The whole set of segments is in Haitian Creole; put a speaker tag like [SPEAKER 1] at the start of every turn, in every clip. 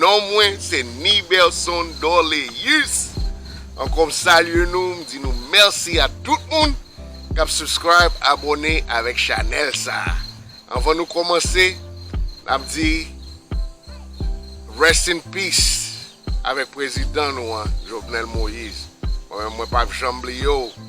[SPEAKER 1] Non mwen se Niberson Dorleus ankò m salye nou m di nou mèsi a tout moun kap subscribe abòne avèk chanèl sa anvan nou kòmanse nap di Rest in peace avèk prezidan nou an Jovenel Moïse mwen menm mwen pap janm bliye w.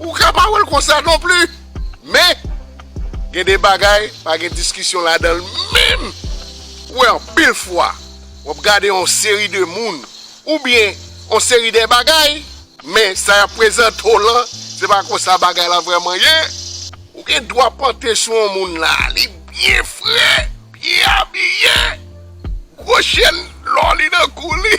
[SPEAKER 1] Ou ka pa wèl konsa non pli men gen de bagay pa gen diskisyon ladanl menm ou wè anpil fwa wap gade yon seri de moun ou byen yon seri de bagay men sa yap prezante w lan se pa konsa bagay la vrèman ye. Ou gen dwa pante sou yon moun la li byen fre, byen abiye, gwo chèn lò li nan kou li.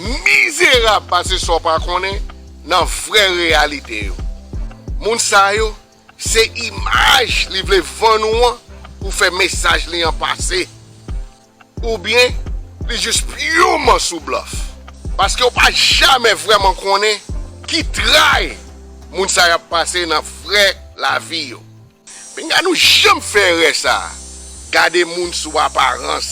[SPEAKER 1] mizerab pase sa w pa konnen nan vrè reyalite yo. Moun sa yo, se imaj li vle vann ou an pou fè mesaj li an pase. Oubyen li jis pyoman sou blòf. Paske w pa jamè vrèman konnen ki tray moun sa yo ap pase nan vrè lavi yo. Pinga nou janm fè erè sa a. Gade moun sou aparans.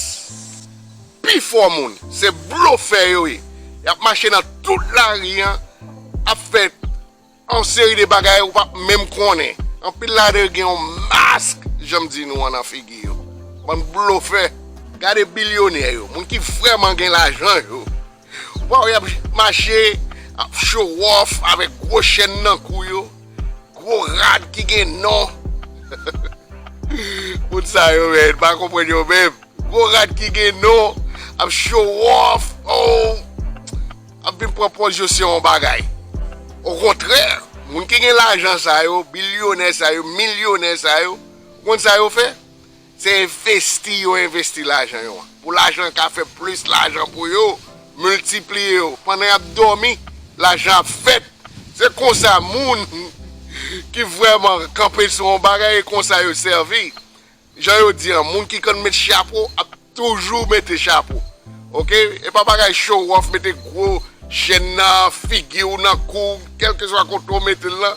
[SPEAKER 1] Pifò moun, se blofè yo ye. Y ap mache nan tout lari an, ap fè yon seri de bagay ou pa p menm konnen. Anpil ladan yo gen yon mask, jan m di nou an, nan figi yo. Bann blofè! Gade bilyonè yo, moun ki vrèman gen lajan yo, Waw yap mache ap show off avek gwo chèn nan kou yo, gwo rad ki gen non moun sa yo men pa konprann yo menm gwo rad ki gen non ap show off oh ap vin pran pòz yo se yon bagay okontrè moun ki gen lajan sa yo bilyonè sa yo milyonè sa yo ou konn sa yo fè Se envesti yo envesti lajan yo an pou lajan an ka fè plis lajan pou yo miltipliye yo pandan y ap dòmi lajan ap fèt se konsa moun ki vrèman kanpe sou yon bagay e konsa yo sèvi jan yo di an moun ki konn met chapo ap toujou mete chapo ok e pa bagay show off mete gwo chèn nan figi w nan kou w kèlkeswa kote w mete l lan.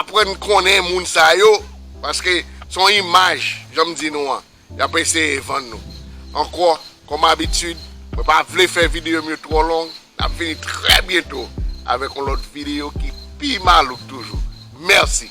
[SPEAKER 1] Aprann konnen moun sa yo paske se yon imaj jan m di nou an y ap eseye vann nou. Ankò kòm abitid mwen pa vle fè videyo m yo twò long n ap vini trè byento avèk yon lòt videyo ki pi malouk toujou. Mèsi!